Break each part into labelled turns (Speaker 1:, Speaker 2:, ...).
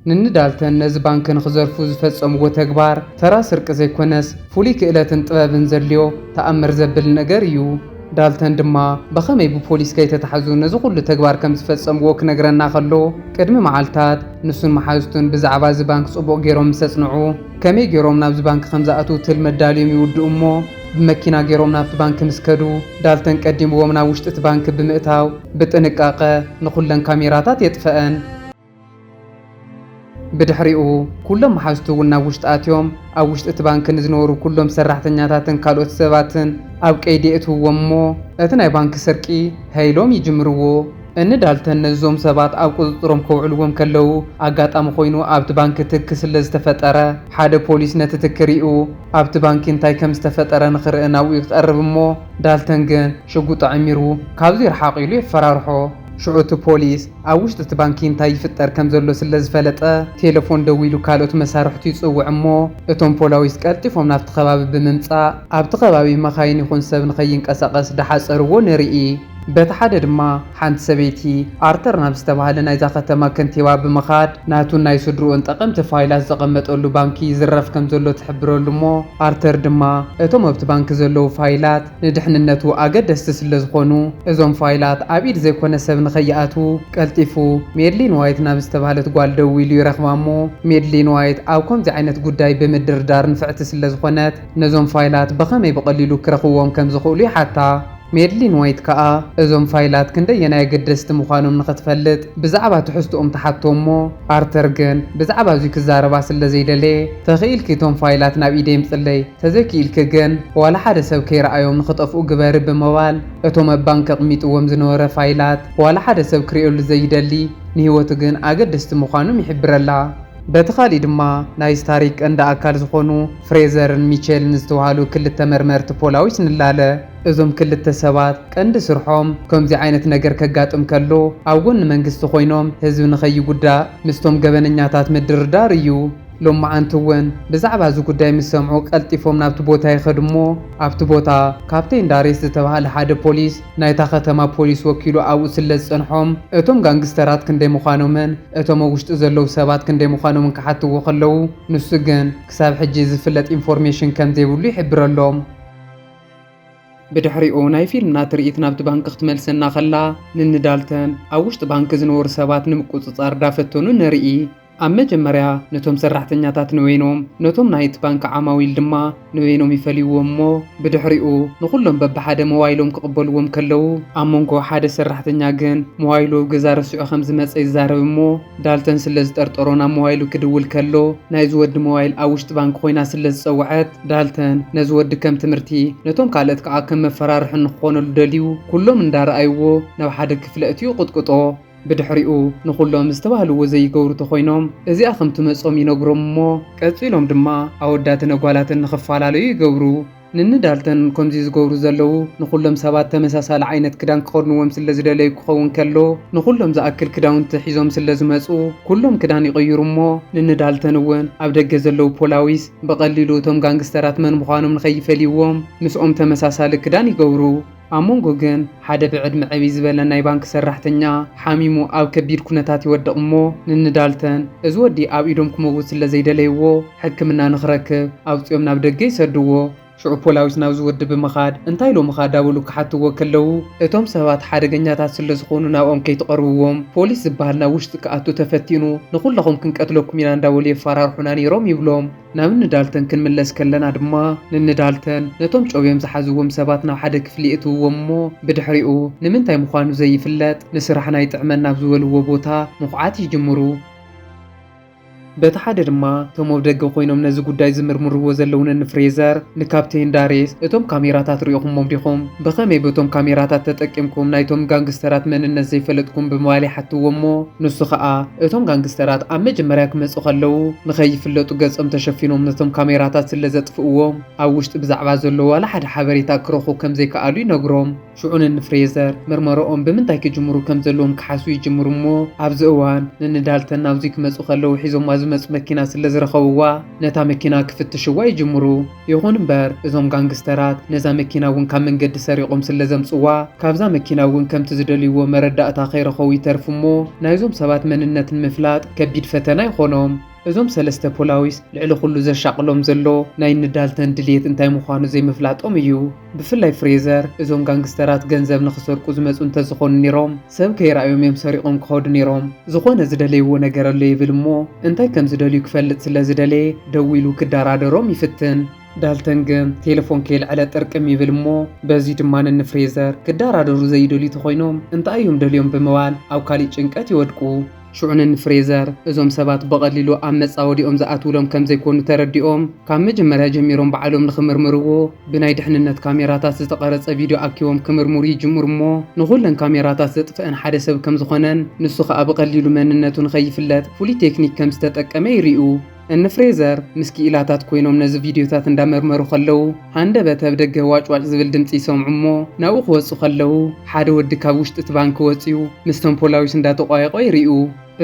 Speaker 1: ንኒ ዳልተን ነዚ ባንክ ንኽዘርፉ ዝፈጸምዎ ተግባር ተራ ስርቂ ዘይኮነስ ፍሉይ ክእለትን ጥበብን ዘድልዮ ተኣምር ዘብል ነገር ኢዩ። ዳልተን ድማ ብኸመይ ብፖሊስ ከይተታሕዙ ነዚ ኩሉ ተግባር ከም ዝፈጸምዎ ክነግረና ከሎ ቅድሚ መዓልታት ንሱን መሓዙቱን ብዛዕባ እዚ ባንክ ጽቡቕ ገይሮም ምስ ኣጽንዑ ከመይ ገይሮም ናብዚ ባንክ ከም ዝኣትዉ ትልሚ ኣዳልዮም ይውድኡ እሞ ብመኪና ገይሮም ናብቲ ባንክ ምስ ከዱ ዳልተን ቀዲምዎም ናብ ውሽጢ እቲ ባንክ ብምእታው ብጥንቃቐ ንኹለን ካሜራታት የጥፈኣን። ብድሕሪኡ ኩሎም መሓዝቱ እውን ናብ ውሽጢ ኣትዮም ኣብ ውሽጢ እቲ ባንኪ ንዝነበሩ ኩሎም ሰራሕተኛታትን ካልኦት ሰባትን ኣብ ቀይዲ የእትውዎም እሞ እቲ ናይ ባንኪ ስርቂ ሀይ ኢሎም ይጅምርዎ። እኒ ዳልተን ነዞም ሰባት ኣብ ቁፅፅሮም ከውዕልዎም ከለው ኣጋጣሚ ኮይኑ ኣብቲ ባንኪ ትኪ ስለዝተፈጠረ ሓደ ፖሊስ ነቲ ትኪ ሪኡ ኣብቲ ባንኪ እንታይ ከምዝተፈጠረ ንክርኢ ናብኡ ይቐርብ እሞ ዳልተን ግን ሽጉጡ ኣዐሚሩ ካብዙይ ርሓቕ ኢሉ የፈራርሖ። ሽዑ እቲ ፖሊስ ኣብ ውሽጢ እቲ ባንኪ እንታይ ይፍጠር ከም ዘሎ ስለ ዝፈለጠ፣ ቴለፎን ደዊሉ ካልኦት መሳርሕቱ ይጽውዕ እሞ፣ እቶም ፖላዊስ ቀልጢፎም ናብቲ ከባቢ ብምምጻእ፣ ኣብቲ ከባቢ መኻይን ይኹን ሰብ ንኸይንቀሳቐስ ዳሓጸርዎ ንርኢ። በቲ ሓደ ድማ፣ ሓንቲ ሰበይቲ፣ ኣርተር ናብ ዝተባህለ ናይዛ ከተማ ከንቲባ ብምኻድ፣ ናቱን ናይ ስድርኡን ጠቐምቲ ፋይላት ዘቐመጠሉ ባንኪ ይዝረፍ ከም ዘሎ ትሕብረሉ እሞ፣ ኣርተር ድማ፣ እቶም ኣብቲ ባንኪ ዘለዉ ፋይላት፣ ንድሕንነቱ ኣገደስቲ ስለዝኾኑ እዞም ፋይላት ኣብ ኢድ ዘይኮነ ሰብ ንኸይኣትዉ ቀልጢፉ ሜድሊን ዋይት ናብ ዝተብሃለት ጓል ደዊሉ ይረኽባ'ሞ ሜድሊን ዋይት ኣብ ኮምዚ ዓይነት ጉዳይ ብምድርዳር ንፍዕቲ ስለዝኾነት ነዞም ፋይላት ብኸመይ ብቐሊሉ ክረኽብዎም ከምዝኽእሉ ይሓታ። ሜድሊን ዋይት ከኣ እዞም ፋይላት ክንደየናይ ኣገደስቲ ምዃኖም ንኽትፈልጥ ብዛዕባ ትሕዝትኦም ትሓቶ'ሞ ኣርተር ግን ብዛዕባ'ዙይ ክዛረባ ስለዘይደለየ ተኽኢልኪ እቶም ፋይላት ናብ ኢደይ ኣምጽለይ ተዘይኪኢልኪ ግን ዋላ ሓደ ሰብ ከይረኣዮም ንክጠፍኡ ግበሪ ብመባል እቶም ኣብ ባንክ ኣቅሚጥዎም ዝነበረ ፋይላት ዋላ ሓደ ሰብ ክሪኦሉ ዘይደሊ ንሂወቱ ግን ኣገደስቲ ምኳኖም ይሕብረላ። በቲ ካሊእ ድማ ናይዚ ታሪክ ቀንዲ ኣካል ዝኮኑ ፍሬዘርን ሚቼልን ዝተባሃሉ ክልተ መርመርቲ ፖላዊስ ንላለ። እዞም ክልተ ሰባት ቀንዲ ስርሖም ከምዙይ ዓይነት ነገር ከጋጥም ከሎ ኣብ ጎኒ መንግስቲ ኮይኖም ህዝቢ ንከይጉዳእ ምስቶም ገበነኛታት ምድርዳር እዩ። ሎማዓንቲ እውን ብዛዕባ እዚ ጉዳይ ምስ ሰምዑ ቀልጢፎም ናብቲ ቦታ ይኸዱ እሞ ኣብቲ ቦታ ካፕቴን ዳሬስ ዝተባህለ ሓደ ፖሊስ ናይታ ከተማ ፖሊስ ወኪሉ ኣብኡ ስለዝጸንሖም እቶም ጋንግስተራት ክንደይ ምዃኖምን እቶም ኣብ ውሽጢ ዘለዉ ሰባት ክንደይ ምዃኖምን ክሓትዎ ከለዉ ንሱ ግን ክሳብ ሕጂ ዝፍለጥ ኢንፎርሜሽን ከምዘይብሉ ይሕብረሎም። ብድሕሪኡ ናይ ፊልምና ትርኢት ናብቲ ባንኪ ክትመልሰና ከላ ንንዳልተን ኣብ ውሽጢ ባንኪ ዝነበሩ ሰባት ንምቁጽጻር ዳፈተኑ ንርኢ። ኣብ መጀመርያ ነቶም ሰራሕተኛታት ንበይኖም ነቶም ናይ'ቲ ባንኪ ዓማዊል ድማ ንበይኖም ይፈልይዎም እሞ ብድሕሪኡ ንኹሎም በብሓደ ሞባይሎም ክቕበልዎም ከለዉ ኣብ መንጎ ሓደ ሰራሕተኛ ግን ሞባይሉ ኣብ ገዛ ረሲዑ ከም ዝመጸ ይዛረብ እሞ ዳልተን ስለ ዝጠርጠሮ ናብ ሞባይሉ ክድውል ከሎ ናይ'ዚ ወዲ ሞባይል ኣብ ውሽጢ ባንኪ ኮይና ስለ ዝጸወዐት ዳልተን ነዚ ወዲ ከም ትምህርቲ ነቶም ካልእት ከኣ ከም መፈራርሒ ንክኾነሉ ደልዩ ኩሎም እንዳረኣይዎ ናብ ሓደ ክፍሊ ኣእትዩ ይቕጥቅጦ። ብድሕሪኡ ንኹሎም ዝተባህልዎ ዘይገብሩ ተኾይኖም እዚኣ ከም ትመጾም ይነግሮም እሞ ቀጺሎም ድማ ኣወዳትን ኣጓላትን ንኽፋላለዩ ይገብሩ። ንኒ ዳልተን ከምዚ ዝገብሩ ዘለዉ ንኹሎም ሰባት ተመሳሳሊ ዓይነት ክዳን ክኸድንዎም ስለ ዝደለዩ ክኸውን ከሎ ንኹሎም ዝኣክል ክዳውንቲ ሒዞም ስለ ዝመጹ ኩሎም ክዳን ይቕይሩ እሞ ንኒ ዳልተን እውን ኣብ ደገ ዘለዉ ፖላዊስ ብቐሊሉ እቶም ጋንግስተራት መን ምዃኖም ንኸይፈልይዎም ምስኦም ተመሳሳሊ ክዳን ይገብሩ። ኣብ መንጎ ግን ሓደ ብዕድመ ዕብይ ዝበለ ናይ ባንኪ ሰራሕተኛ ሓሚሙ ኣብ ከቢድ ኩነታት ይወድቕ እሞ ንኒ ዳልተን እዚ ወዲ ኣብ ኢዶም ክመውት ስለ ዘይደለይዎ ሕክምና ንኽረክብ ኣውጺኦም ናብ ደገ ይሰድዎ። ሽዑ ፖላዊስ ናብዚ ወዲ ብምኻድ እንታይ ኢሎምኻ ዳበሉ ክሓትዎ ከለዉ እቶም ሰባት ሓደገኛታት ስለ ዝኾኑ ናብኦም ከይትቐርብዎም ፖሊስ ዝበሃል ናብ ውሽጢ ክኣቱ ተፈቲኑ ንኹለኹም ክንቀትለኩም ኢና እንዳበሉ የፋራርሑና ነይሮም ይብሎም። ናብ እኒ ዳልተን ክንምለስ ከለና ድማ ንኒ ዳልተን ነቶም ጨውዮም ዝሓዝዎም ሰባት ናብ ሓደ ክፍሊ የእትውዎም እሞ ብድሕሪኡ ንምንታይ ምዃኑ ዘይፍለጥ ንስራሕና ይጥዕመና ኣብ ዝበልዎ ቦታ ምኹዓት ይጅምሩ። በቲ ሓደ ድማ እቶም ኣብ ደገ ኮይኖም ነዚ ጉዳይ ዝምርምርዎ ዘለዉ ነኒ ፍሬዘር ንካፕቴን ዳሬስ እቶም ካሜራታት ሪኢኹሞም ዲኹም? ብኸመይ በቶም ካሜራታት ተጠቂምኩም ናይቶም ጋንግስተራት መንነት ዘይፈለጥኩም ብምባል ይሓትዎ እሞ ንሱ ኸኣ እቶም ጋንግስተራት ኣብ መጀመርያ ክመጹ ከለዉ ንኸይፍለጡ ገጾም ተሸፊኖም ነቶም ካሜራታት ስለ ዘጥፍእዎም ኣብ ውሽጢ ብዛዕባ ዘሎ ዋላ ሓደ ሓበሬታ ክረኽቡ ከም ዘይከኣሉ ይነግሮም። ሽዑ ንንፍሬዘር ምርመረኦም ብምንታይ ክጅምሩ ከም ዘለዎም ክሓስቡ ይጅምሩ እሞ ኣብዚ እዋን ንንዳልተን ናብዙይ ክመጹ ከለዉ ሒዞማ ዝመጹ መኪና ስለ ዝረኸብዋ ነታ መኪና ክፍትሽዋ ይጅምሩ። ይኹን እምበር እዞም ጋንግስተራት ነዛ መኪና እውን ካብ መንገዲ ሰሪቖም ስለዘምፅዋ ካብዛ መኪና እውን ከምቲ ዝደልይዎ መረዳእታ ከይረኸቡ ይተርፉ እሞ ናይዞም ሰባት መንነት ንምፍላጥ ከቢድ ፈተና ይኾኖም። እዞም ሰለስተ ፖላዊስ ልዕሊ ኹሉ ዘሻቕሎም ዘሎ ናይ እኒ ዳልተን ድልየት እንታይ ምዃኑ ዘይምፍላጦም እዩ። ብፍላይ ፍሬዘር እዞም ጋንግስተራት ገንዘብ ንኽሰርቁ ዝመጹ እንተዝኾኑ ኔሮም ሰብ ከይረኣዮም እዮም ሰሪቖም ክኸዱ ኔሮም። ዝኾነ ዝደለይዎ ነገር ኣሎ ይብል እሞ እንታይ ከምዝደልዩ ክፈልጥ ስለዝደለየ ደዊሉ ክደራደሮም ይፍትን። ዳልተን ግን ቴለፎን ከየልዐለ ጥርቅም ይብል እሞ በዚ ድማ ንፍሬዘር ክደራደሩ ዘይደልዩ ተኾይኖም እንታይ እዮም ደልዮም ብምባል ኣብ ካሊእ ጭንቀት ይወድቁ። ሹዕን ን ፍሬዘር እዞም ሰባት ብቐሊሉ ኣብ መጻወዲኦም ዝኣትዉሎም ከም ዘይኮኑ ተረዲኦም ካብ መጀመርያ ጀሚሮም ባዕሎም ንኽምርምርዎ ብናይ ድሕንነት ካሜራታት ዝተቐረጸ ቪድዮ ኣኪቦም ክምርምሩ ይጅምሩ እሞ ንኹለን ካሜራታት ዘጥፍእን ሓደ ሰብ ከም ዝኾነን ንሱ ኸኣ ብቐሊሉ መንነቱ ንኸይፍለጥ ፍሉይ ቴክኒክ ከም ዝተጠቀመ ይሪኡ። እኒ ፍሬዘር ምስ ክኢላታት ኮይኖም ነዚ ቪድዮታት እንዳመርመሩ ከለዉ ሃንደበት ኣብ ደገ ዋጭዋጭ ዝብል ድምጺ ይሰምዑ እሞ ናብኡ ክወጹ ከለዉ ሓደ ወዲ ካብ ውሽጢ እቲ ባንኪ ወጺኡ ምስቶም ፖላዊስ እንዳተቋየቖ ይሪኡ።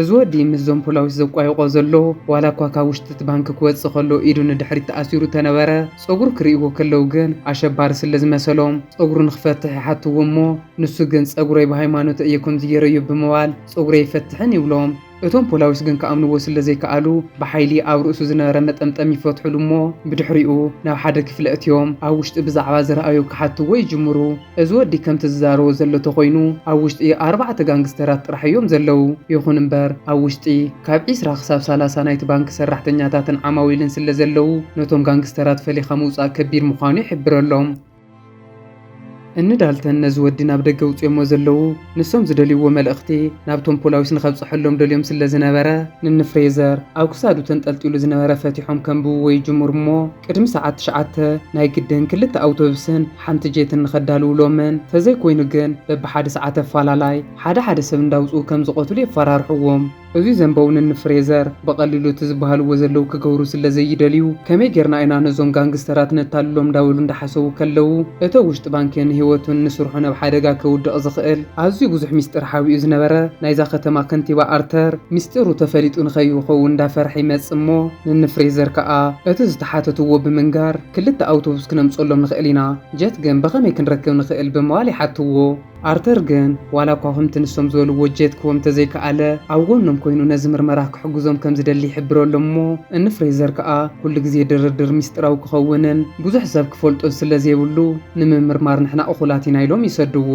Speaker 1: እዚ ወዲ ምስዞም ፖላዊስ ዘቋይቖ ዘሎ ዋላ እኳ ካብ ውሽጢ እቲ ባንኪ ክወጽእ ከሎ ኢዱ ንድሕሪት ተኣሲሩ ተነበረ ጸጉሩ ክሪእዎ ከለዉ ግን ኣሸባሪ ስለ ዝመሰሎም ጸጉሩ ንክፈትሕ ይሓትዎ እሞ ንሱ ግን ጸጉረይ ብሃይማኖተይ እየ ከምዚ ገይረዮ ብምባል ጸጉረይ ኣይፈትሕን ይብሎም። እቶም ፖላዊስ ግን ክኣምንዎ ስለ ዘይከኣሉ ብሓይሊ ኣብ ርእሱ ዝነበረ መጠምጠሚ ይፈትሑሉ እሞ ብድሕሪኡ ናብ ሓደ ክፍሊ ኣእትዮም ኣብ ውሽጢ ብዛዕባ ዝረኣዩ ክሓትዎ ይጅምሩ። እዚ ወዲ ከምቲ ዝዛረቦ ዘሎ ተኾይኑ ኣብ ውሽጢ ኣርባዕተ ጋንግስተራት ጥራሕ እዮም ዘለዉ። ይኹን እምበር ኣብ ውሽጢ ካብ ዕስራ ክሳብ ሰላሳ ናይቲ ባንኪ ሰራሕተኛታትን ዓማዊልን ስለ ዘለዉ ነቶም ጋንግስተራት ፈሊኻ ምውጻእ ከቢድ ምዃኑ ይሕብረሎም። እኒ ዳልተን ነዚ ወዲ ናብ ደገ ውጽዮሞ ዘለዉ ንሶም ዝደልይዎ መልእኽቲ ናብቶም ፖላዊስ ንኸብጽሐሎም ደልዮም ስለ ዝነበረ ንኒ ፍሬዘር ኣብ ክሳዱ ተንጠልጢሉ ዝነበረ ፈቲሖም ከንብብዎ ይጅምሩ እሞ ቅድሚ ሰዓት ትሽዓተ ናይ ግድን ክልተ ኣውቶብስን ሓንቲ ጄትን ንኸዳልውሎምን ተዘይኮይኑ ግን በብሓደ ሰዓት ኣፋላላይ ሓደ ሓደ ሰብ እንዳውጽኡ ከም ዝቐትሉ የፋራርሕዎም እዚ ዘንበው ንን ፍሬዘር ብቀሊሉ እቲ ዝባሃልዎ ዘለው ክገብሩ ስለዘይደልዩ ከመይ ጌርና ኢና ነዞም ጋንግስተራት ነታልሎም እንዳበሉ እንዳሓሰቡ ከለው እቶ ውሽጢ ባንኪ ንህይወቱን ንስርሑን ኣብ ሓደጋ ከውድቅ ዝኽእል ኣዝዩ ብዙሕ ሚስጢር ሓቢኡ ዝነበረ ናይዛ ከተማ ከንቲባ ኣርተር ሚስጢሩ ተፈሊጡ ንከይኸውን እንዳፈርሐ ይመጽእ እሞ ንን ፍሬዘር ከኣ እቲ ዝተሓተትዎ ብምንጋር ክልተ ኣውቶቡስ ክነምጸሎም ንኽእል ኢና ጀት ግን ብኸመይ ክንረክብ ንኽእል ብምባል ይሓትዎ። ኣርተር ግን ዋላኳ ከምቲ ንሶም ዝበልዎ ጀት ክህቦም እንተዘይከኣለ፣ ኣብ ጎኖም ኮይኑ ነዚ ምርመራ ክሕግዞም ከምዝደሊ ይሕብረሎም እሞ እኒ ፍሬዘር ከኣ ኩሉ ግዜ ድርድር ሚስጢራዊ ክኸውንን ብዙሕ ሰብ ክፈልጦን ስለዘይብሉ ንምምርማር ንሕና እኹላት ኢና ኢሎም ይሰድዎ።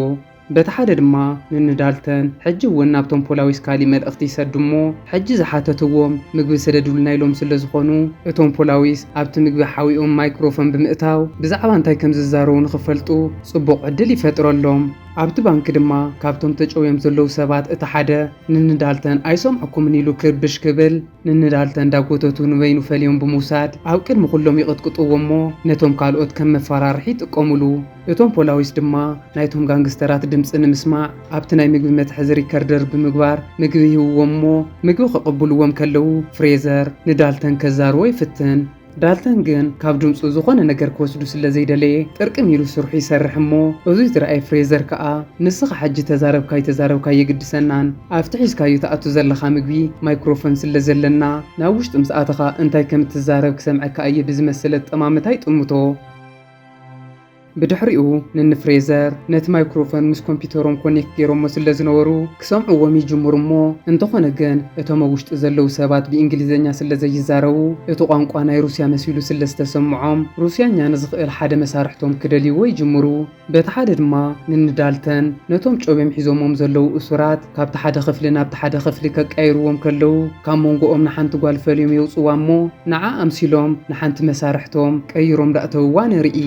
Speaker 1: በቲ ሓደ ድማ ንኒ ዳልተን ሕጂ እውን ናብቶም ፖላዊስ ካሊእ መልእኽቲ ይሰዱ እሞ ሕጂ ዝሓተትዎም ምግቢ ስደዱልና ኢሎም ስለዝኾኑ እቶም ፖላዊስ ኣብቲ ምግቢ ሓዊኦም ማይክሮፎን ብምእታው ብዛዕባ እንታይ ከምዝዛረቡ ንኽፈልጡ ጽቡቕ ዕድል ይፈጥረሎም። ኣብቲ ባንኪ ድማ ካብቶም ተጨውዮም ዘለዉ ሰባት እቲ ሓደ ንንዳልተን ኣይሰምዕኩምን ኢሉ ክርብሽ ክብል ንንዳልተን እንዳጎተቱ ንበይኑ ፈልዮም ብምውሳድ ኣብ ቅድሚ ኩሎም ይቕጥቅጥዎ እሞ ነቶም ካልኦት ከም መፋራርሒ ይጥቀሙሉ። እቶም ፖላዊስ ድማ ናይቶም ጋንግስተራት ድምጺ ንምስማዕ ኣብቲ ናይ ምግቢ መትሐዚ ሪከርደር ብምግባር ምግቢ ይህብዎም እሞ ምግቢ ክቕብልዎም ከለዉ ፍሬዘር ንዳልተን ከዛርዎ ይፍትን። ዳልተን ግን ካብ ድምጹ ዝኾነ ነገር ክወስዱ ስለ ዘይደለየ ጥርቅም ኢሉ ስርሑ ይሰርሕ እሞ እዙይ ዝረኣየ ፍሬዘር ከኣ ንስኻ ሕጂ ተዛረብካ ኣይተዛረብካ ኣየግድሰናን ኣብቲ ሒዝካዮ ትኣቱ ዘለኻ ምግቢ ማይክሮፎን ስለ ዘለና ናብ ውሽጢ ምስ ኣተኻ እንታይ ከም እትዛረብ ክሰምዐካ እየ ብዝመስል ኣጠማምታ ይጥምቶ። ብድሕሪኡ ንን ፍሬዘር ነቲ ማይክሮፎን ምስ ኮምፒተሮም ኮኔክት ጌሮሞ ስለዝነበሩ ክሰምዕዎም ይጅምሩ እሞ እንተኾነ ግን እቶም ኣብ ውሽጢ ዘለዉ ሰባት ብእንግሊዘኛ ስለዘይዛረቡ እቲ ቋንቋ ናይ ሩስያ መሲሉ ስለዝተሰምዖም ሩስያኛ ንዝኽእል ሓደ መሳርሕቶም ክደልይዎ ይጅምሩ በቲ ሓደ ድማ ንን ዳልተን ነቶም ጮቤም ሒዞሞም ዘለዉ እሱራት ካብቲ ሓደ ክፍሊ ናብቲ ሓደ ክፍሊ ከቃይርዎም ከለዉ ካብ ሞንጎኦም ንሓንቲ ጓል ፈልዮም የውጽዋ እሞ ንዓ ኣምሲሎም ንሓንቲ መሳርሕቶም ቀይሮም ዳእተውዋ ንርኢ።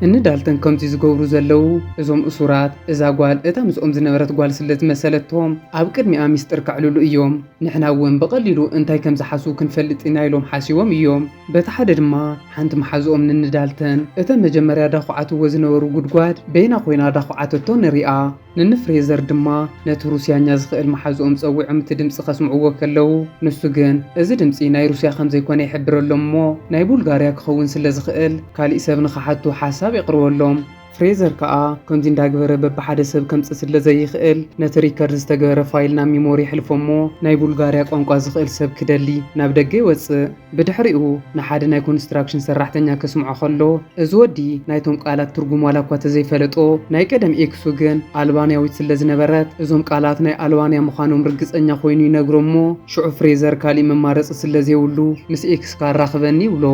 Speaker 1: እኒ ዳልተን ከምዚ ዝገብሩ ዘለዉ እዞም እሱራት እዛ ጓል እታ ምስኦም ዝነበረት ጓል ስለ ዝመሰለቶም ኣብ ቅድሚኣ ሚስጥር ከዕልሉ እዮም ንሕና እውን ብቀሊሉ እንታይ ከም ዝሓስቡ ክንፈልጥ ኢና ኢሎም ሓሲቦም እዮም በቲ ሓደ ድማ ሓንቲ መሓዝኦም ንኒ ዳልተን እተን መጀመርያ ዳኹዓትዎ ዝነበሩ ጉድጓድ በይና ኮይና ዳኹዓተቶ ንሪኣ። ንን ፍሬዘር ድማ ነቲ ሩስያኛ ዝኽእል መሓዝኦም ጸዊዖም እቲ ድምጺ ከስምዕዎ ከለዉ፣ ንሱ ግን እዚ ድምጺ ናይ ሩስያ ከም ዘይኮነ ይሕብረሎም እሞ ናይ ቡልጋርያ ክኸውን ስለ ዝኽእል ካሊእ ሰብ ንኽሓቱ ሓሳብ የቕርበሎም። ፍሬዘር ከኣ ከምዚ እንዳግበረ በብሓደ ሰብ ከምጽእ ስለ ዘይኽእል ነቲ ሪከርድ ዝተገበረ ፋይል ናብ ሚሞሪ የሕልፎ እሞ ናይ ቡልጋርያ ቋንቋ ዝኽእል ሰብ ክደሊ ናብ ደገ ይወጽእ። ብድሕሪኡ ንሓደ ናይ ኮንስትራክሽን ሰራሕተኛ ከስምዖ ከሎ፣ እዚ ወዲ ናይቶም ቃላት ትርጉም ዋላ እኳ ተዘይፈለጦ፣ ናይ ቀደም ኤክሱ ግን ኣልባንያዊት ስለዝነበረት እዞም ቃላት ናይ ኣልባንያ ምዃኖም ርግጸኛ ኮይኑ ይነግሮ እሞ ሽዑ ፍሬዘር ካሊእ መማረጺ ስለዘይብሉ ምስ ኤክስካ ኣራኽበኒ ይብሎ።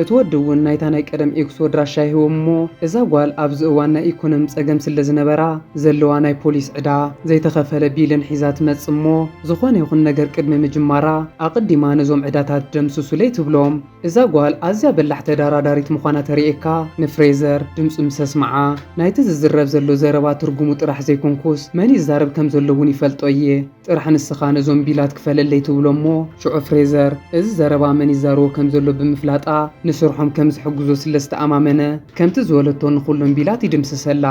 Speaker 1: እቲ ወዲ እውን ናይታ ናይ ቀደም ኤክሱ ኣድራሻ ይህቦ እሞ እዛ ጓል ኣብዚ እዋን ናይ ኢኮኖሚ ጸገም ስለዝነበራ ዘለዋ ናይ ፖሊስ ዕዳ፣ ዘይተኸፈለ ቢልን ሒዛ ትመጽእ እሞ፣ ዝኾነ ይኹን ነገር ቅድሚ ምጅማራ ኣቕዲማ ነዞም ዕዳታት ደምስሱለይ ትብሎም። እዛ ጓል ኣዝያ በላሕ ተዳራዳሪት ምዃና ተርእየካ። ንፍሬዘር ድምጹ ምስ ኣስምዓ፣ ናይቲ ዝዝረብ ዘሎ ዘረባ ትርጉሙ ጥራሕ ዘይኮንኩስ መን ይዛረብ ከም ዘሎ እውን ይፈልጦ እየ። ጥራሕ ንስኻ ነዞም ቢላት ክፈለለይ ትብሎም እሞ ሽዑ ፍሬዘር እዚ ዘረባ መን ይዛረቦ ከም ዘሎ ብምፍላጣ ንስርሖም ከም ዝሕግዞ ስለ ዝተኣማመነ ከምቲ ዝበለቶ ንኹሎም ቢላት ይድምስሰላ።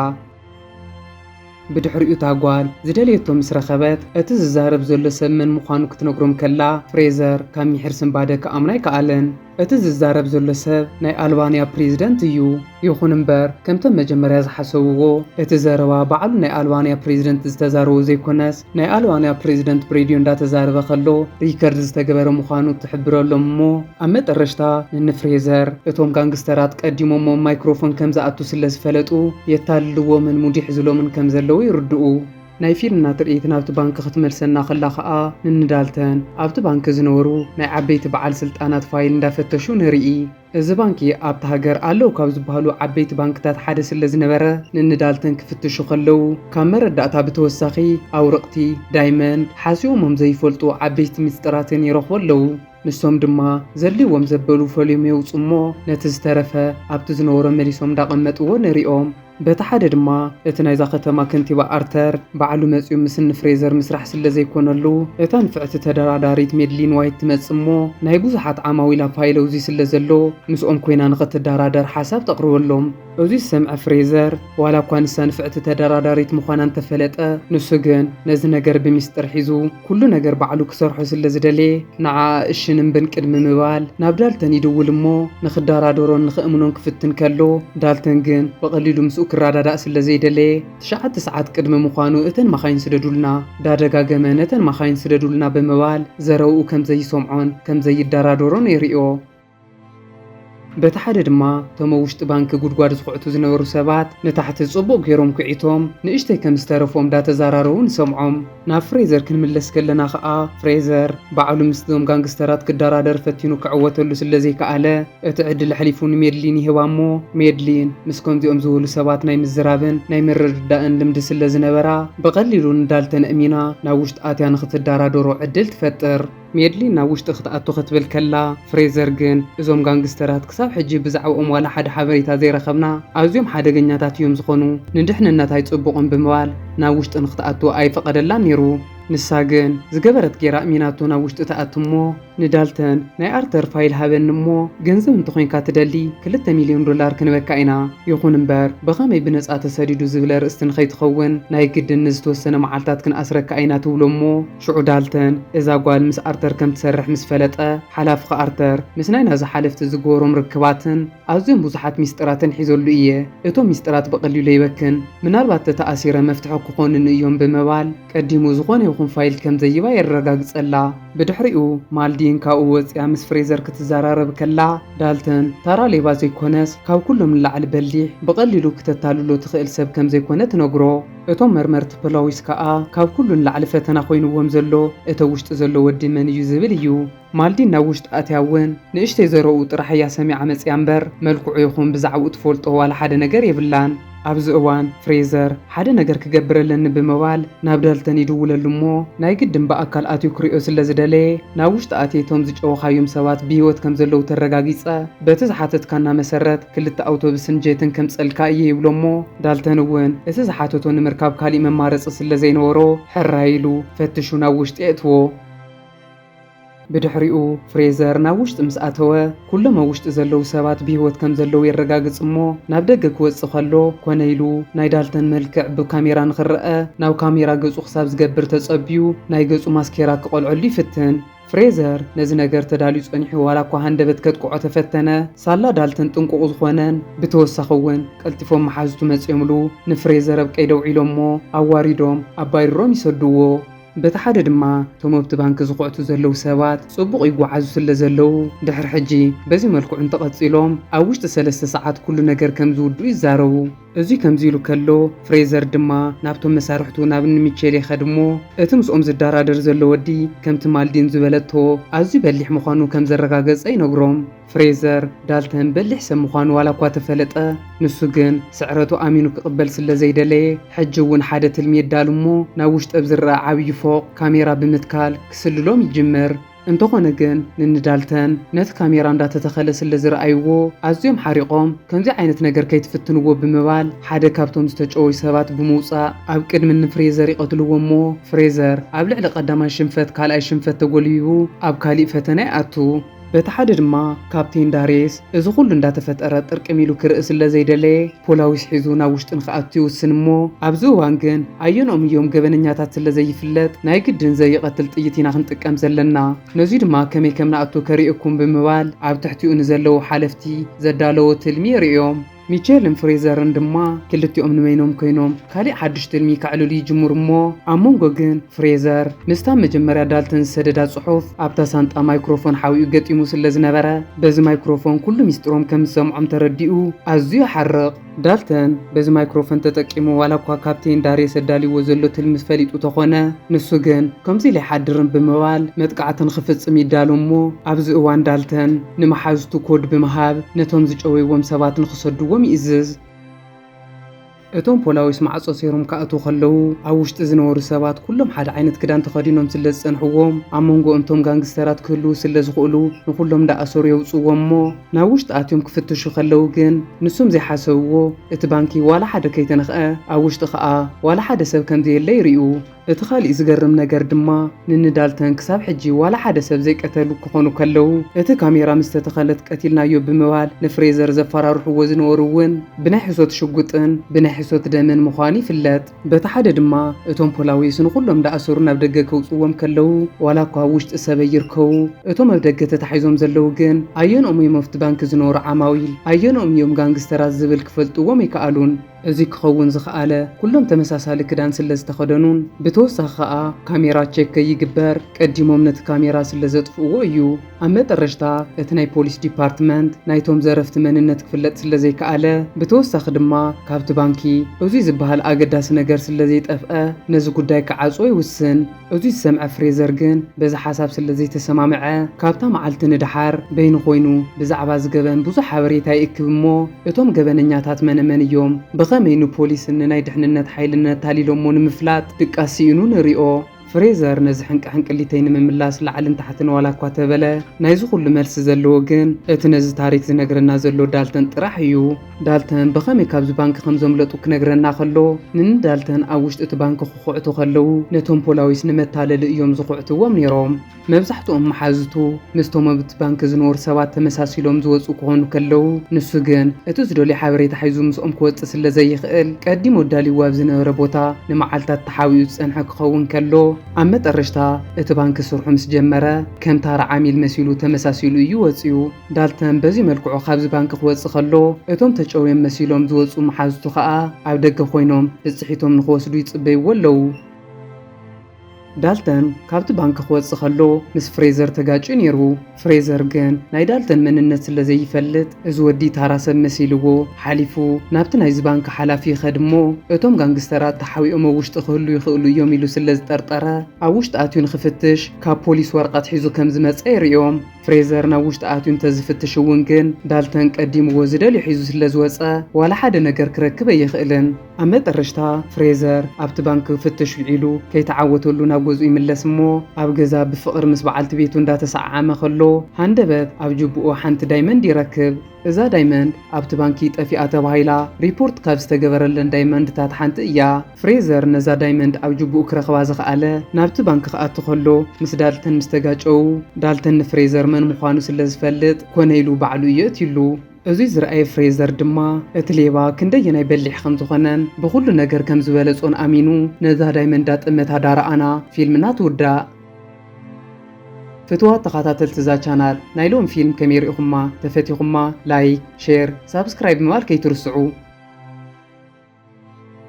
Speaker 1: ብድሕሪኡ እታ ጓል ዝደለየቶ ምስ ረኸበት፣ እቲ ዝዛረብ ዘሎ ሰብ መን ምዃኑ ክትነግሮም ከላ፣ ፍሬዘር ካብ ሚሒር ስንባደ ክኣምኖ ኣይከኣለን። እቲ ዝዛረብ ዘሎ ሰብ ናይ ኣልባንያ ፕሬዚደንት እዩ። ይኹን እምበር፣ ከምቶም መጀመርያ ዝሓሰብዎ፣ እቲ ዘረባ ባዕሉ ናይ ኣልባንያ ፕሬዚደንት ዝተዛረቦ ዘይኮነስ፣ ናይ ኣልዋንያ ፕሬዚደንት ብሬድዮ እንዳተዛረበ ከሎ ሪከርድ ዝተገበረ ምዃኑ ትሕብረሎም እሞ ኣብ መጠረሽታ ንንፍሬዘር እቶም ጋንግስተራት ቀዲሞሞም ማይክሮፎን ከምዝኣቱ ስለዝፈለጡ የታልልዎምን ሙድ ይሕዝሎምን ከምዘለዉ ይርድኡ። ናይ ፊልና ትርኢት ናብቲ ባንኪ ክትመልሰና ከላ ከኣ ንንዳልተን ኣብቲ ባንኪ ዝነበሩ ናይ ዓበይቲ በዓል ስልጣናት ፋይል እንዳፈተሹ ንርኢ። እዚ ባንኪ ኣብታ ሃገር ኣለው ካብ ዝበሃሉ ዓበይቲ ባንክታት ሓደ ስለዝነበረ ንንዳልተን ክፍትሹ ከለው ካብ መረዳእታ ብተወሳኺ ኣውርቕቲ፣ ዳይመን፣ ሓሲዮሞም ዘይፈልጡ ዓበይቲ ሚስጥራትን ይረኽቡ ኣለው። ንሶም ድማ ዘድልይዎም ዘበሉ ፈልዮም የውፅኡሞ ነቲ ዝተረፈ ኣብቲ ዝነበሮ መሊሶም እንዳቐመጥዎ ንሪኦም። በቲ ሓደ ድማ እቲ ናይዛ ከተማ ከንቲባ ኣርተር ባዕሉ መጺኡ ምስ እኒ ፍሬዘር ምስራሕ ስለ ዘይኮነሉ እታ ንፍዕቲ ተደራዳሪት ሜድሊን ዋይት ትመጽእ እሞ ናይ ብዙሓት ዓማዊል ኣብ ፋይል እዙይ ስለ ዘሎ ምስኦም ኮይና ንኽትደራደር ሓሳብ ተቕርበሎም። እዙይ ዝሰምዐ ፍሬዘር ዋላ እኳ ንሳ ንፍዕቲ ተደራዳሪት ምዃና እንተፈለጠ ንሱ ግን ነዚ ነገር ብሚስጥር ሒዙ ኩሉ ነገር ባዕሉ ክሰርሖ ስለ ዝደለየ፣ ንዓኣ እሽን እምብን ቅድሚ ምባል፣ ናብ ዳልተን ይድውል እሞ፣ ንኽዳራደሮን ንኽእምኖን ክፍትን ከሎ፣ ዳልተን ግን ብቐሊሉ ምስኡ ክራዳዳእ ስለ ዘይደለየ፣ ትሽዓተ ሰዓት ቅድሚ ምዃኑ እተን ማካይን ስደዱልና፣ ዳደጋገመ ነተን ማካይን ስደዱልና ብምባል ዘረብኡ ከም ዘይሰምዖን ከም ዘይዳራደሮን የርእዮ። በቲ ሓደ ድማ እቶም ኣብ ውሽጢ ባንኪ ጉድጓድ ዝኹዕቱ ዝነበሩ ሰባት ንታሕቲ ጽቡቕ ገይሮም ኩዒቶም ንእሽተይ ከም ዝተረፎም ዳተዛራረቡ ንሰምዖም። ናብ ፍሬዘር ክንምለስ ከለና ከኣ ፍሬዘር ባዕሉ ምስዞም ጋንግስተራት ክደራደር ፈቲኑ ክዕወተሉ ስለዘይከኣለ እቲ ዕድል ኣሕሊፉ ንሜድሊን ይህባ እሞ ሜድሊን ምስ ከምዚኦም ዝበሉ ሰባት ናይ ምዝራብን ናይ ምርድዳእን ልምዲ ስለዝነበራ ብቐሊሉ ንዳልተን ኣእሚና ናብ ውሽጢ ኣትያ ንኽትደራደሮ ዕድል ትፈጥር። ሜድሊን ናብ ውሽጢ ክትኣቱ ክትብል ከላ፣ ፍሬዘር ግን፣ እዞም ጋንግስተራት ክሳብ ሕጂ ብዛዕብኦም ዋላ ሓደ ሓበሬታ ዘይረኸብና፣ ኣዝዮም ሓደገኛታት እዮም ዝኾኑ፣ ንድሕንነት ኣይጽቡቕን ብምባል ናብ ውሽጢ ንኽትኣቱ ኣይፈቐደላን ነይሩ። ንሳ ግን፣ ዝገበረት ገይራ ኣእሚናቶ ናብ ውሽጢ ትኣቱ እሞ፣ ንዳልተን፣ ናይ ኣርተር ፋይል ሃበኒ እሞ፣ ገንዘብ እንተኾይንካ ትደሊ ክልተ ሚልዮን ዶላር ክንበካ ኢና፣ ይኹን እምበር ብኸመይ ብነጻ ተሰዲዱ ዝብል ኣርእስቲ ንኸይትኸውን ናይ ግድን ንዝተወሰነ መዓልታት ክንኣስረካ ኢና ትብሎ እሞ፣ ሽዑ ዳልተን እዛ ጓል ምስ ኣርተር ከም ትሰርሕ ምስ ፈለጠ፣ ሓላፍኺ ኣርተር ምስ ናይ ናዚ ሓለፍቲ ዝግበሮም ርክባትን ኣዝዮም ብዙሓት ሚስጥራትን ሒዘሉ እየ። እቶም ሚስጥራት ብቐሊሉ ኣይበክን፣ ምናልባት ተተኣሲረ መፍትሒ ክኾኑኒ እዮም ብምባል ቀዲሙ ዝኾነ ይኹን ፋይል ከም ዘይባ የረጋግጸላ። ብድሕሪኡ ማልዲን ካብኡ ወጺኣ ምስ ፍሬዘር ክትዘራረብ ከላ፣ ዳልተን ታራ ሌባ ዘይኮነስ ካብ ኩሎም ንላዕሊ በሊሕ፣ ብቐሊሉ ክተታልሎ ትኽእል ሰብ ከም ዘይኮነ ትነግሮ። እቶም መርመርቲ ፖላዊስ ከኣ ካብ ኩሉ ንላዕሊ ፈተና ኮይንዎም ዘሎ እቲ ኣብ ውሽጢ ዘሎ ወዲ መን እዩ ዝብል እዩ። ማልዲን ናብ ውሽጢ ኣትያ እውን ንእሽተይ ዘረኡ ጥራሕ እያ ሰሚዓ መጺኣ እምበር መልክዑ ይኹን ብዛዕብኡ ትፈልጦ ዋላ ሓደ ነገር የብላን። ኣብዚ እዋን ፍሬዘር ሓደ ነገር ክገብር ኣለኒ ብምባል ናብ ዳልተን ይድውለሉ እሞ ናይ ግድን ብኣካል ኣትዩ ክሪኦ ስለ ዝደለየ ናብ ውሽጢ ኣትየ እቶም ዝጨወኻዮም ሰባት ብህይወት ከም ዘለዉ ተረጋጊጸ በቲ ዝሓተትካና መሰረት ክልተ ኣውቶብስን ጀትን ከምጸልካ እየ ይብሎ'ሞ፣ ዳልተን እውን እቲ ዝሓተቶ ንምርካብ ካሊእ መማረጺ ስለዘይነበሮ ሕራይ ኢሉ ፈትሹ ናብ ውሽጢ የእትዎ። ብድሕሪኡ ፍሬዘር ናብ ውሽጢ ምስ ኣተወ፣ ኩሎም ኣብ ውሽጢ ዘለዉ ሰባት ብህይወት ከምዘለዉ የረጋግጽ'ሞ፣ ናብ ደገ ክወጽእ ከሎ ኮነ ኢሉ ናይ ዳልተን መልክዕ ብካሜራ ንኽረኣ ናብ ካሜራ ገጹ ክሳብ ዝገብር ተጸብዩ ናይ ገጹ ማስኬራ ክቐልዐሉ ይፍትን። ፍሬዘር ነዚ ነገር ተዳልዩ ጸኒሑ ዋላ እኳ ሃንደበት ከጥቅዖ ተፈተነ፣ ሳላ ዳልተን ጥንቁቕ ዝኾነን ብተወሳኺ እውን ቀልጢፎም መሓዙቱ መጺኦምሉ ንፍሬዘር ኣብ ቀይዲ ኣውዒሎሞ ኣዋሪዶም ኣብ ባይርሮም ይሰዱዎ። በቲ ሓደ ድማ እቶም ኣብቲ ባንኪ ዝኹዕቱ ዘለዉ ሰባት ጽቡቕ ይጓዓዙ ስለ ዘለዉ ድሕሪ ሕጂ በዚ መልክዑ እንተቐጺሎም ኣብ ውሽጢ ሰለስተ ሰዓት ኩሉ ነገር ከም ዝውድኡ ይዛረቡ። እዚ ከምዚ ኢሉ ከሎ፣ ፍሬዘር ድማ ናብቶም መሳርሕቱ ናብ እኒ ሚቼል ይኸድ እሞ፣ እቲ ምስኦም ዝደራደር ዘሎ ወዲ ከምቲ ማልዲን ዝበለቶ ኣዝዩ በሊሕ ምዃኑ ከም ዘረጋገጸ ይነግሮም። ፍሬዘር፣ ዳልተን በሊሕ ሰብ ምዃኑ ዋላ እኳ ተፈለጠ፣ ንሱ ግን ስዕረቱ ኣሚኑ ክቕበል ስለ ዘይደለየ፣ ሕጂ እውን ሓደ ትልሚ የዳሉ እሞ ናብ ውሽጢ ኣብ ዝረኣ ዓብዪ ፎቕ ካሜራ ብምትካል ክስልሎም ይጅምር። እንተኾነ ግን ንኒ ዳልተን ነቲ ካሜራ እንዳተተኸለ ስለ ዝረኣይዎ ኣዝዮም ሓሪቖም ከምዚ ዓይነት ነገር ከይትፍትንዎ ብምባል ሓደ ካብቶም ዝተጨወዩ ሰባት ብምውጻእ ኣብ ቅድሚ ን ፍሬዘር ይቐትልዎ እሞ ፍሬዘር ኣብ ልዕሊ ቀዳማይ ሽንፈት ካልኣይ ሽንፈት ተጎልቢቡ ኣብ ካሊእ ፈተነ ይኣቱ። በቲ ሓደ ድማ ካፕቴን ዳሬስ እዚ ኩሉ እንዳተፈጠረ ጥርቅም ኢሉ ክርኢ ስለ ዘይደለየ ፖላዊስ ሒዙ ናብ ውሽጢ ንክኣቱ ይውስን እሞ ኣብዚ እዋን ግን ኣየንኦም እዮም ገበነኛታት ስለ ዘይፍለጥ ናይ ግድን ዘይቐትል ጥይት ኢና ክንጥቀም ዘለና ነዙይ ድማ ከመይ ከምንኣቱ ከርእየኩም ብምባል ኣብ ትሕቲኡ ንዘለዉ ሓለፍቲ ዘዳለዎ ትልሚ የርእዮም። ሚቸልን ፍሬዘርን ድማ ክልቲኦም ንበይኖም ኮይኖም ካሊእ ሓዱሽ ትልሚ ከዕልሉ ይጅምሩ እሞ ኣብ መንጎ ግን ፍሬዘር ምስታ መጀመርያ ዳልተን ዝሰደዳ ጽሑፍ ኣብታ ሳንጣ ማይክሮፎን ሓዊኡ ገጢሙ ስለ ዝነበረ በዚ ማይክሮፎን ኩሉ ሚስጢሮም ከም ዝሰምዖም ተረዲኡ ኣዝዩ ይሓርቕ። ዳልተን በዚ ማይክሮፎን ተጠቂሙ ዋላ እኳ ካፕቴን ዳሬስ ኣዳልይዎ ዘሎ ትልሚ ፈሊጡ ተኾነ ንሱ ግን ከምዚ ኢለ ኣይሓድርን ብምባል መጥቃዕቲ ንኽፍጽም ይዳሎ እሞ ኣብዚ እዋን ዳልተን ንመሓዙቱ ኮድ ብምሃብ ነቶም ዝጨወይዎም ሰባት ንኽሰድዎም ይእዝዝ። እቶም ፖላዊስ ማዕጾ ሰይሮም ክኣትዉ ከለዉ፣ ኣብ ውሽጢ ዝነበሩ ሰባት ኩሎም ሓደ ዓይነት ክዳን ተኸዲኖም ስለ ዝጸንሕዎም፣ ኣብ መንጎ እቶም ጋንግስተራት ክህልዉ ስለ ዝኽእሉ ንኹሎም እንዳኣሰሩ የውጽዎም እሞ ናብ ውሽጢ ኣትዮም ክፍትሹ ከለዉ ግን ንሶም ዘይሓሰብዎ እቲ ባንኪ ዋላ ሓደ ከይተነኽኣ ኣብ ውሽጢ ክኣ ዋላ ሓደ ሰብ ከም ዘየለ ይርእዩ። እቲ ኻሊእ ዝገርም ነገር ድማ ንንዳልተን ክሳብ ሕጂ ዋላ ሓደ ሰብ ዘይቀተሉ ክኾኑ ከለው እቲ ካሜራ ምስ ተተኸለት ቀቲልናዮ ብምባል ንፍሬዘር ዘፋራርሕዎ ዝነበሩ እውን ብናይ ሕሶት ሽጉጥን ብናይ ሕሶት ደምን ምዃኑ ይፍለጥ። በቲ ሓደ ድማ እቶም ፖላዊስ ንኹሎም ዳኣሰሩ ናብ ደገ ከውጽዎም ከለው ዋላ እኳ ኣብ ውሽጢ ሰበይ ይርከቡ እቶም ኣብ ደገ ተታሒዞም ዘለው ግን ኣየንኦም እዮም ኣፍቲ ባንኪ ዝነበሩ ዓማዊል ኣየንኦም እዮም ጋንግስተራት ዝብል ክፈልጥዎም ኣይከኣሉን። እዚ ክኸውን ዝኸኣለ ኩሎም ተመሳሳሊ ክዳን ስለ ዝተኸደኑን ብተወሳኺ ከኣ ካሜራ ቼክ ከይግበር ቀዲሞም ነቲ ካሜራ ስለ ዘጥፍእዎ እዩ። ኣብ መጠረሽታ እቲ ናይ ፖሊስ ዲፓርትመንት ናይቶም ዘረፍቲ መንነት ክፍለጥ ስለ ዘይከኣለ ብተወሳኺ ድማ ካብቲ ባንኪ እዙይ ዝበሃል ኣገዳሲ ነገር ስለ ዘይጠፍኣ ነዚ ጉዳይ ክዓጽዎ ይውስን። እቱይ ዝሰምዐ ፍሬዘር ግን በዚ ሓሳብ ስለ ዘይተሰማምዐ ካብታ መዓልቲ ንደሓር በይኑ ኮይኑ ብዛዕባ እዚ ገበን ብዙሕ ሓበሬታ ይእክብ እሞ እቶም ገበነኛታት መነ መን እዮም ብኸመይ ንፖሊስን ንናይ ድሕንነት ሓይልን ነታሊሎሞ ንምፍላጥ ድቃስ ሲኢኑ ንሪኦ። ፍሬዘር ነዚ ሕንቂ ሕንቅሊተይ ንምምላስ ላዕልን ታሕትን ዋላ እኳ ተበለ ናይዚ ኩሉ መልሲ ዘለዎ ግን እቲ ነዚ ታሪክ ዝነግረና ዘሎ ዳልተን ጥራሕ እዩ። ዳልተን ብኸመይ ካብዚ ባንክ ከም ዘምለጡ ክነግረና ከሎ፣ ን ዳልተን ኣብ ውሽጢ እቲ ባንክ ክኹዕቱ ከለዉ፣ ነቶም ፖላዊስ ንመታለሊ እዮም ዝኹዕትዎም ነይሮም። መብዛሕትኦም መሓዙቱ ምስቶም ኣብቲ ባንክ ዝነበሩ ሰባት ተመሳሲሎም ዝወጽኡ ክኾኑ ከለዉ፣ ንሱ ግን እቲ ዝደልዮ ሓበሬታ ሒዙ ምስኦም ክወጽእ ስለ ዘይክእል፣ ቀዲሙ ኣዳልይዎ ኣብ ዝነበረ ቦታ ንመዓልታት ተሓቢኡ ዝጸንሐ ክኸውን ከሎ፣ ኣብ መጠረሽታ እቲ ባንክ ስርሑ ምስ ጀመረ፣ ከም ታራ ዓሚል መሲሉ ተመሳሲሉ እዩ ወጺኡ። ዳልተን በዚ መልክዑ ካብዚ ባንኪ ክወጽእ ከሎ፣ እቶም ተጨውዮም መሲሎም ዝወጽኡ መሓዙቱ ከኣ ኣብ ደገ ኮይኖም ብጽሒቶም ንኽወስዱ ይጽበይዎ ኣለዉ። ዳልተን ካብቲ ባንኪ ክወጽእ ከሎ ምስ ፍሬዘር ተጋጭዩ ነይሩ። ፍሬዘር ግን ናይ ዳልተን መንነት ስለ ዘይፈልጥ እዚ ወዲ ታራ ሰብ መሲልዎ ሓሊፉ ናብቲ ናይዚ ባንኪ ሓላፊ ይኸድ እሞ እቶም ጋንግስተራት ተሓቢኦም ኣብ ውሽጢ ክህልዉ ይኽእሉ እዮም ኢሉ ስለ ዝጠርጠረ ኣብ ውሽጢ ኣትዩ ንኽፍትሽ ካብ ፖሊስ ወረቐት ሒዙ ከም ዝመጸ የርእዮም። ፍሬዘር ናብ ውሽጢ ኣትዩ እንተዝፍትሽ እውን ግን፣ ዳልተን ቀዲምዎ ዝደልዮ ሒዙ ስለዝወጸ፣ ዋላ ሓደ ነገር ክረክብ ኣይኽእልን። ኣብ መጠረሽታ፣ ፍሬዘር ኣብቲ ባንኪ ክፍትሽ ውዒሉ ከይተዓወተሉ ናብ ገዝኡ ይምለስ እሞ፣ ኣብ ገዛ ብፍቕሪ ምስ በዓልቲ ቤቱ እንዳተሰዓዓመ ከሎ፣ ሃንደበት ኣብ ጁቡኡ ሓንቲ ዳይመንድ ይረክብ። እዛ ዳይመንድ ኣብቲ ባንኪ ጠፊኣ ተባሂላ ሪፖርት ካብ ዝተገበረለን ዳይመንድታት ሓንቲ እያ። ፍሬዘር ነዛ ዳይመንድ ኣብ ጁቡኡ ክረኽባ ዝኸኣለ ናብቲ ባንክ ክኣቱ ከሎ ምስ ዳልተን ምስ ተጋጨዉ፣ ዳልተን ንፍሬዘር መን ምዃኑ ስለ ዝፈልጥ ኮነ ኢሉ ባዕሉ እዩ የእትዩሉ። እዙይ ዝረኣየ ፍሬዘር ድማ እቲ ሌባ ክንደየናይ በሊሕ ከም ዝኾነን ብኹሉ ነገር ከም ዝበለጾን ኣሚኑ ነዛ ዳይመንድ ዳጠመታ ዳረኣና ፊልምና ትውዳእ። ፍትዋት ተኻታተልቲ እዛ ቻናል ናይ ሎሚ ፊልም ከመይ ሪኢኹማ? ተፈቲኹማ? ላይክ፣ ሼር፣ ሳብስክራይብ ምባል ከይትርስዑ።